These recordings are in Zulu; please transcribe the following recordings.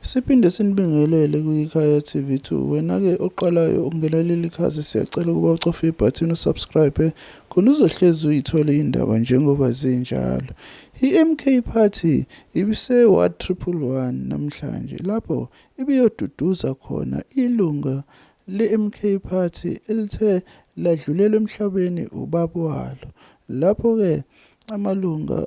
Siphinde sinibingelele kwiKhaya TV two. Wena ke oqalayo ukungena kuleli khasi siyacela ukuba ucofe ibhathini usubscribe khona uzohlezi uyithole indaba njengoba zinjalo. IMK Party ibise Ward Triple One namhlanje lapho ibiyoduduza khona ilunga leMK Party elithe ladlulelwa emhlabeni ubaba walo. Lapho ke amalunga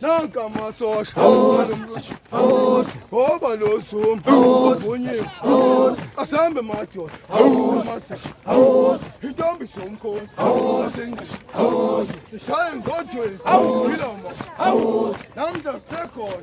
nanka amasosha ngoba lo zuma vunyiwe asambe madoda intombi somkhona sishaye ngodweni iloma namhla sisekhona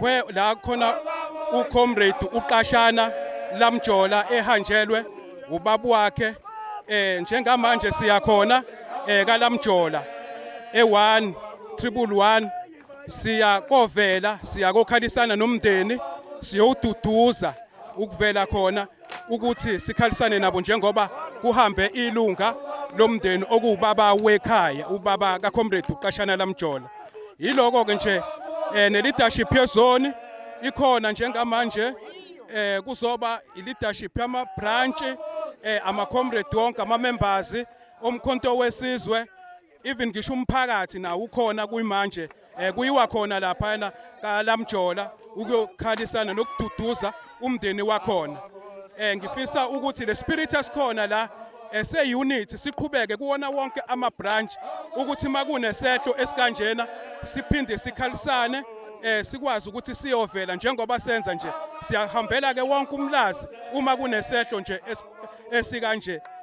where la khona ucomrade uqashana lamjola ehanjelwe ubabu wakhe eh njengamanje siya khona eh kalamjola e1 triple 1 siya kovela siya kokhalisana nomndeni siyowududuza ukuvela khona ukuthi sikhalisane nabo njengoba kuhambe ilunga lomndeni okuwubaba wekhaya ubaba kaComrade uqashana lamjola yiloko ke nje eh nelidashi phezoni ikhona njengamanje eh kuzoba leadership yama branch eh ama comrade wonke ama members omkhonto wesizwe even ngisho umphakathi nawo ukhona kuyimanje um kuyiwa khona laphayana kalamjola ukuyokhalisana nokududuza umndeni wakhona um ngifisa ukuthi le spirit esikhona la ese-unit siqhubeke kuwona wonke ama-branch ukuthi uma kunesehlo esikanjena siphinde sikhalisane um sikwazi ukuthi siyovela njengoba senza nje siyahambela-ke wonke umlazi uma kunesehlo nje esikanje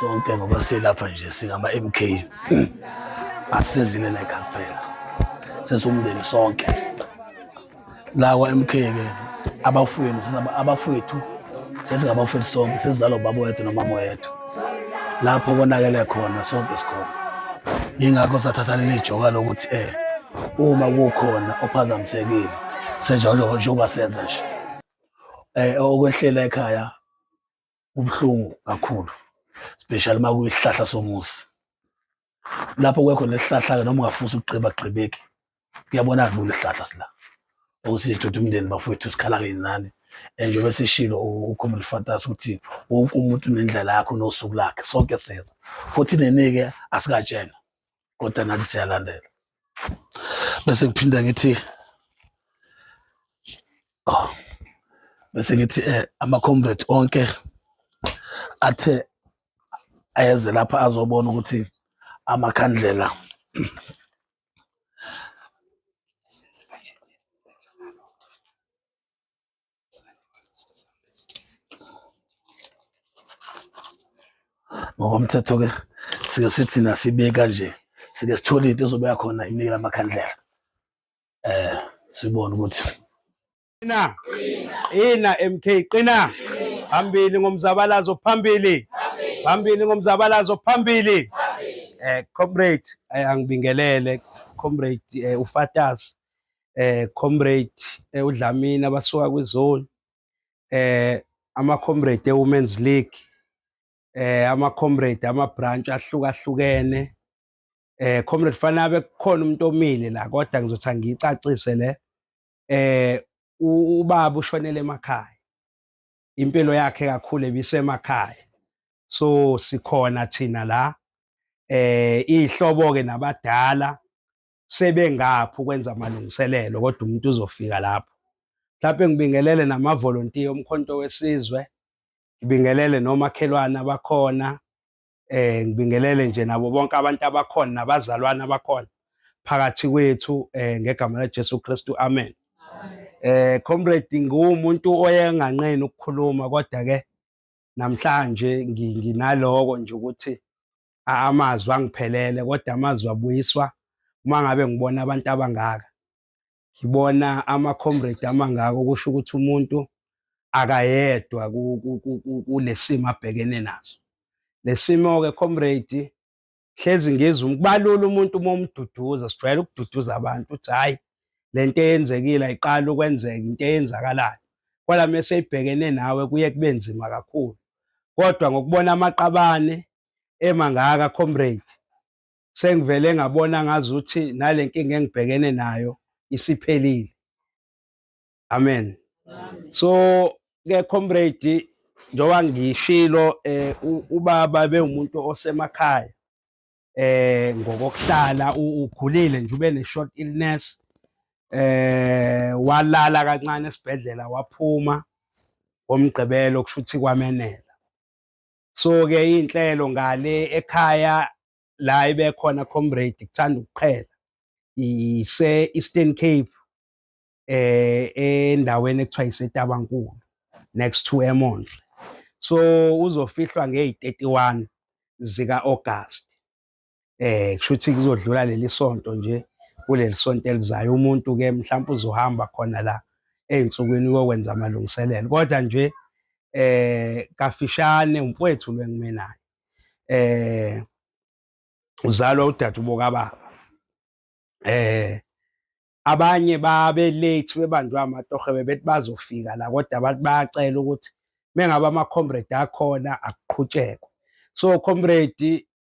sonke ngoba silapha nje singama-mk asisezile like kuphela sesumndeni sonke la kwa-mk ke abafowenu abafowethu sesingabafowethu sonke sesizalwa ubaba wethu nomama wethu lapho konakele khona sonke sikhona yingakho sathatha leli joka lokuthi eh uma kukhona ophazamisekile senja njengoba senza nje eh okwehlela ekhaya ubuhlungu kakhulu especially uma kuyisihlahla somuzi lapho kwekho nesihlahla-ke noma ungafusi ukugqiba gqibeki kuyabona lula isihlahla sila ukuthi sithuthi umndeni bafowethu sikhala-ke nani and njengoba sishilo ukhomela ifantasy ukuthi wonke umuntu unendlela yakho nosuku lakhe sonke seza futhi nenike asikatshena kodwa nathi siyalandela bese ngiphinda ngithi oh, bese ngithi eh, ama-comrades onke athe ayeze lapha azobona ukuthi amakhandlela ngokomthetho ke sike sithi nasibeka nje sike sithole into ezobeka khona imike lamakhandlela eh sibone ukuthi qina qina MK qina phambili ngomzabalazo phambili phambili ngomzabalazo phambili eh comrade eh, angibingelele comrade eh, ufatas eh comrade eh, udlamini abasuka kwizone eh ama comrade e women's league eh ama comrade ama branch ahlukahlukene eh comrade fanabe kukhona umuntu omile la kodwa ngizothi angicacise le eh ubaba ushonele emakhaya impilo yakhe kakhulu ebisemakhaya so sikhona thina la eh ihlobo ke nabadala sebengaphi ukwenza amalungiselelo kodwa umuntu uzofika lapho mhlawumbe ngibingelele namavolontiya omkhonto wesizwe ngibingelele nomakhelwane abakhona eh ngibingelele nje nabo bonke abantu abakhona nabazalwane abakhona phakathi kwethu eh ngegama laJesu Kristu amen eh comrade ngumuntu oyenganqeni ukukhuluma kodwa ke namhlanje nginaloko nje ukuthi amazwi angiphelele kodwa amazwi abuyiswa uma ngabe ngibona abantu abangaka ngibona ama-comrade amangako kusho ukuthi umuntu akayedwa kulesimo abhekene naso lesimo-ke comrade hlezi ngizwa ukubalula umuntu uma umduduza sijwayele ukududuza abantu uthi hhayi le nto eyenzekile ayiqali ukwenzeka into eyenzakalayo kodwa mese ibhekene nawe kuye kube nzima kakhulu kodwa ngokubona amaqabane emangaka comrade sengivele ngabona ngazuthi nale nkinga engibhekene nayo isiphelile amen so ke comrade njengoba ngishilo eh ubaba bewumuntu osemakhaya eh ngokokuhlala ukhulile nje ube ne short illness eh walala kancane esibhedlela waphuma ngomgqibelo kushuthi kwamenela so ke inhlelo ngale ekhaya la ibekhona comrade kuthanda ukuqhela ise Eastern Cape eh endaweni ekuthiwa iseTabankulu next to eMondle so uzofihlwa ngey31 zika August eh kusho ukuthi kuzodlula leli sonto nje kuleli sonto elizayo umuntu ke mhlawumbe uzohamba khona la ezinsukwini kokwenza amalungiselelo kodwa nje eh kafishane umfowethu lwengimenayo eh uzalwa udade uboka baba eh abanye babe late bebanjwe amatohe bebethi bazofika la kodwa abantu bayacela ukuthi mengabe ama comrade akhona akuqhutshekwe so comrade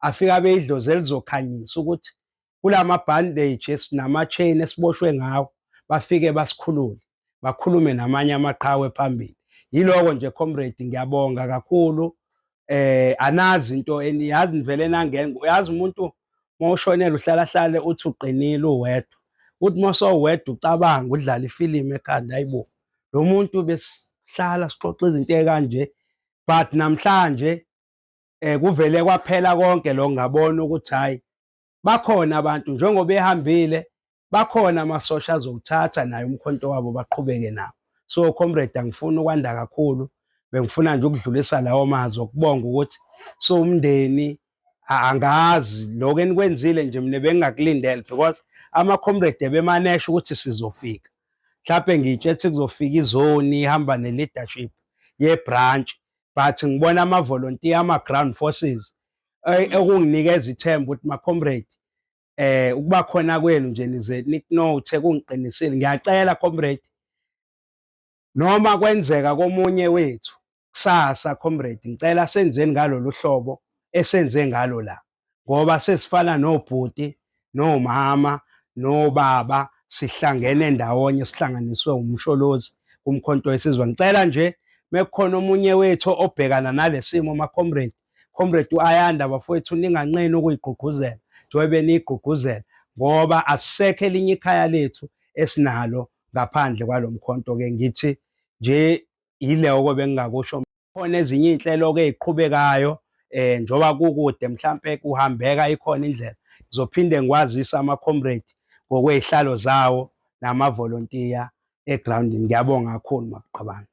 afike abe idlozi elizokhanyisa ukuthi kula mabhandeji esinama-chain esiboshwe ngawo bafike basikhulule bakhulume namanye amaqhawe phambili yiloko nje comrade ngiyabonga kakhulu eh anazi into eniyazi nivele nangena uyazi umuntu mawushonela uhlala hlale uthi uqinile uwedwa uthi mawusowedwa ucabanga udlala ifilimu ekhanda ayibo lo muntu besihlala sixoxa izinto ekanje but namhlanje eh kuvele kwaphela konke lo ngabona ukuthi hayi bakhona abantu njengoba ehambile bakhona amasosha azowuthatha naye umkhonto wabo baqhubeke nawo so comrade angifuni ukwanda kakhulu bengifuna nje ukudlulisa lawo mazwi okubonga ukuthi so umndeni angazi lokho enikwenzile nje mina bengingakulindele because ama comrade bemanesha ukuthi sizofika mhlawumbe ngitshe ethi kuzofika izoni ihamba ne-leadership ye-branch but ngibona ama volunteer ama ground forces eh, ekunginikeza ithemba ukuthi ma comrade eh ukuba khona kwenu nje nize niknote kungiqinisile ngiyacela comrade noma kwenzeka komunye wethu kusasa comrade ngicela senzeni ngalolu hlobo esenze ngalo la ngoba sesifana nobhuti nomama nobaba sihlangene ndawonye sihlanganiswe umsholozi kumkhonto wesizwe ngicela nje mekukhona omunye wethu obhekana nalesimo ma comrade comrade uAyanda bafowethu ninganqeni ukuyigqugquzela njengoba niyigqugquzela ngoba asisekho elinye ikhaya lethu esinalo ngaphandle kwalomkhonto ke ngithi nje yileyo kobe ngingakusho khona ezinye iy'nhlelo ke ey'qhubekayo um njengoba kukude mhlampe kuhambeka ikhona indlela ngizophinde ngikwazise ama-comrade ngokwey'hlalo zawo namavolontiya egrawundini ngiyabonga kakhulu makuqabanga